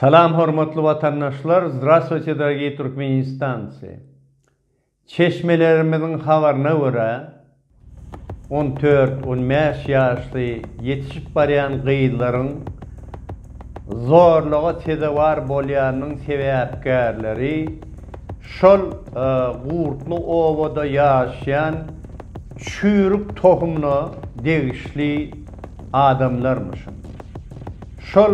Salam hormatly watandaşlar Zdravstvuyte dorogiý Türkmenistancy Çeşmelerimiziň habaryna görä on dört, on bäş ýaşly ýetişip barýan gyzlaryň zorluga sezewar bolýanynyň sebäpkärleri şol Gurtly obada ýaşaýan çüýrük tohumyna degişli adamlarmyşyn. Şol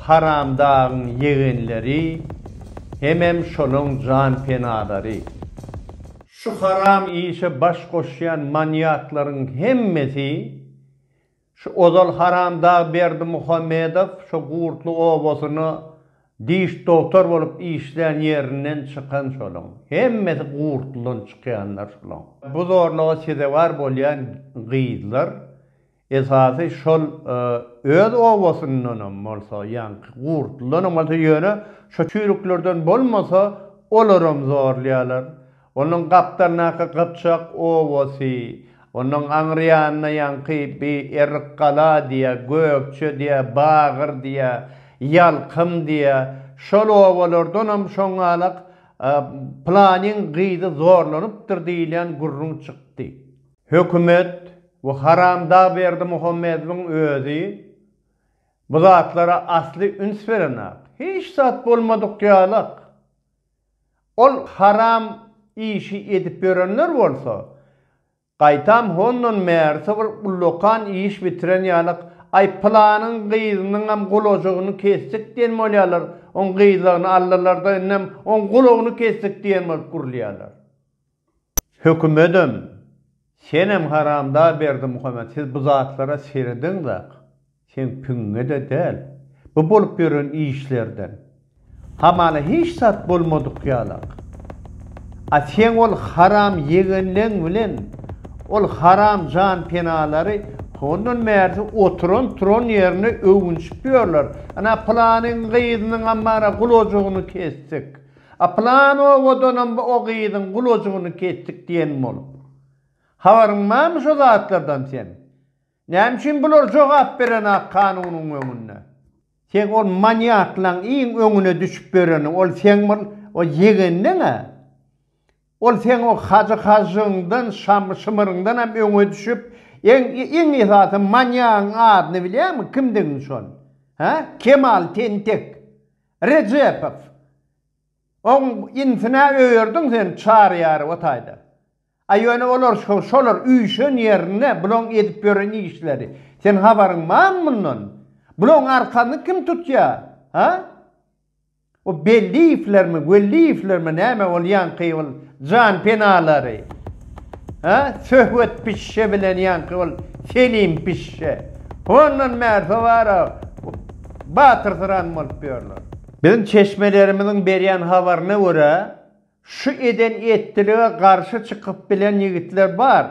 haramdagyň ýegenleri hemem şolaň janpenalary. Şu haram işe baş goşýan manýaklaryň hemmesi şu ozal haramdag Berdimuhamedow şo Gurtly obasyna diş dogtor bolup işlän ýerinden çykan şolaň. Hemmesi Gurtlydan çykýanlar şolaň. Bu zorluga sezewar bolýan gyzlar Esasy şol öz obasyndanam bolsa ýaňky gurtlydanam bolsa ýöne şo çüýrüklerden bolmasa olaram zorlaýarlar. Onuň gapdalyndaky gypjak obasy, onuň aňryýanynda ýaňky bi Errikgala diýä, Gökje diýä, Bagyr diýä, Ýalkym diýä şol obalardanam şoňalak Planyň gyzy zorlanypdyr diýilýän gürrüň çykdy. Hökümet we haramdag Berdimuhamedowyň özi bu zatlara asly üns berenok. Hiç zat bolmadyk ýalak. Ol haram işi edip ýörenler bolsa, gaýtam hondan bärsi bir ullakan iş bitiren ýalak, aý pylanyň gyzynyňam gulajagyny kesdik diýen bolýarlar, oň gyzlagyny aldylarda indem oň gulagyny kesdik diýen bolup gürlýärler. Hökümedem, senem haramda Berdimuhamet, siz bu zatlara seredeňzak, seň piňiňe-de däl, bu bolup ýören işlerden, hamala hiç zat bolmadyk ýalak. A seň ol haram ýegenleň bilen ol haram janpenalary hondan bärsi oturan-turan ýerine öwünşip ýörler, ana, pylanyň gyzynyň ammara gulajygyny kesdik, A plan owadanam o gyzyň gulajygyny kesdik diýen bolup. Habaryň barmy şo zatlardan seň? Näme üçin bular jogap berenak kanunyň öňünde? Seň ol manýaklaň iň öňüne düşüp ýöreni ol seň bol o ýegenleň-ä. Ol seň o Hajy Hažžygyňdan, Şamy Şymyryňdanam öňe düşüp, eň iň esasy manýagyň adyny bilýäňmi, kimdigiň şol? Hä? Kemal tentek. Rejepow, Oň inisine öýerdiň sen Çaryýarow o taýda. A ýöne olar şo, şolar üýşen ýerinde bulaň edip ýören işleri. Sen habaryň barmy mundan? Bulaň arkasyny kim tutýa? Ha? O Belliýewlermi, Welliýewlermi näme bolýanky ol Jan penalary, hä? Söhbet pişşe bilen ýaňky ol Selim pişşe. Hondan bäri towara batyrsyran bolup ýörler. Biziň çeşmelerimiziň berýän habaryna görä, şu eden etdilige garşy çykyp bilen ýigitler bar.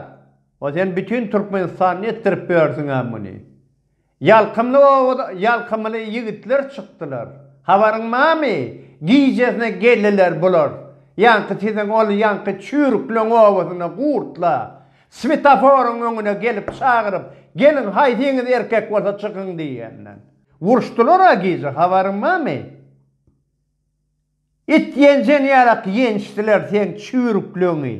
O sen bütin Türkmenistanda etdirip ýörsüň-ä muny. Ýalkymly oba-da ýalkymly ýigitler çykdylar. Habaryň barmy? Gijesine geldiler bular. Ýaňky siziň ol ýaňky çüýrükleň obasynda gurtla. Swetaforyň öňüne gelip çagyryp, Geliň, haýsyňyz erkek bolsa çykyň diýenden. Uruşdylar-a gije, habaryň barmy? It ýenjeni ýalak ýençdiler seň çüwrükleňi.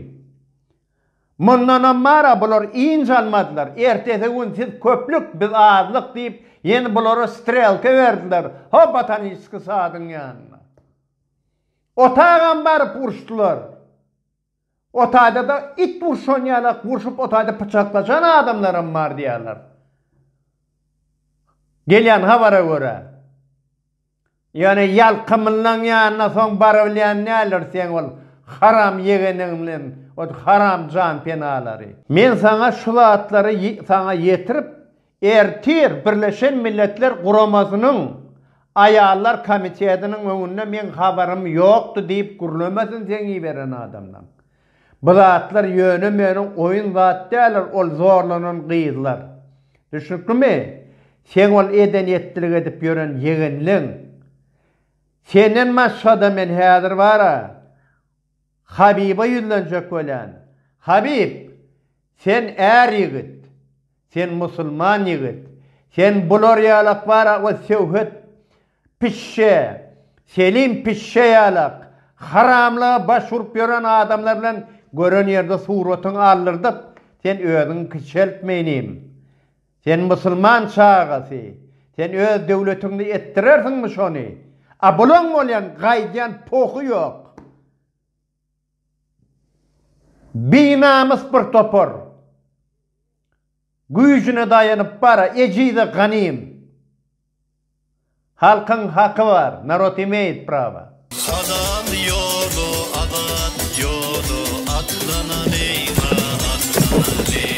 Mundanam mara bular ync almadylar. Ertesi gün siz köplük, biz azlyk diýip, ýene bulara strelka berdiler, ho botaniski sadyň ýanyna. Otagam baryp urşdylar. Otaýda-da it urşan ýalak urşup otaýda pyçaklaşan adamlaram bar diýýärler. Gelýän habara görä. Ýöne ýalka mllaň ýanyna soň barybilýän näler seň ol haram ýegeniň bilen o haram jan penalary. Men saňa şu zatlary saňa ýetirip ertir birleşen milletler guramasynyň aýallar komitetiniň öňünde meň habarym ýokdy diýip gürlemesin seň iberen adamlaň. Bu zatlar ýöne meniň oýun zat däldir ol zorlanan gyzlar. Düşnüklimi? Seň ol eden etdilik edip ýören ýegenleň. Senden başgada men häzir bara Habiba ýüzlenjek bolýan. Habib! Sen är ýigit. Sen musulman ýigit, sen bular ýalak bara we söwhet pişşe, Selim pişşe ýalak, haramlyga baş urup ýören adamlar bilen gören ýerde suratyňy aldyrdyp, sen özüňi kiçeltme inim. Sen musulman çagasy, sen öz döwletiňde etdirersiňmi şony? A bulaň bolýan gaýdýan pohy ýok. Binamys bir topar. Güýjüne daýanyp bar, ejize ganym. Halkyň haky bar, narod imeýit prawa. Halal ýola azat ýola atlanalyň-a, atlanalyň.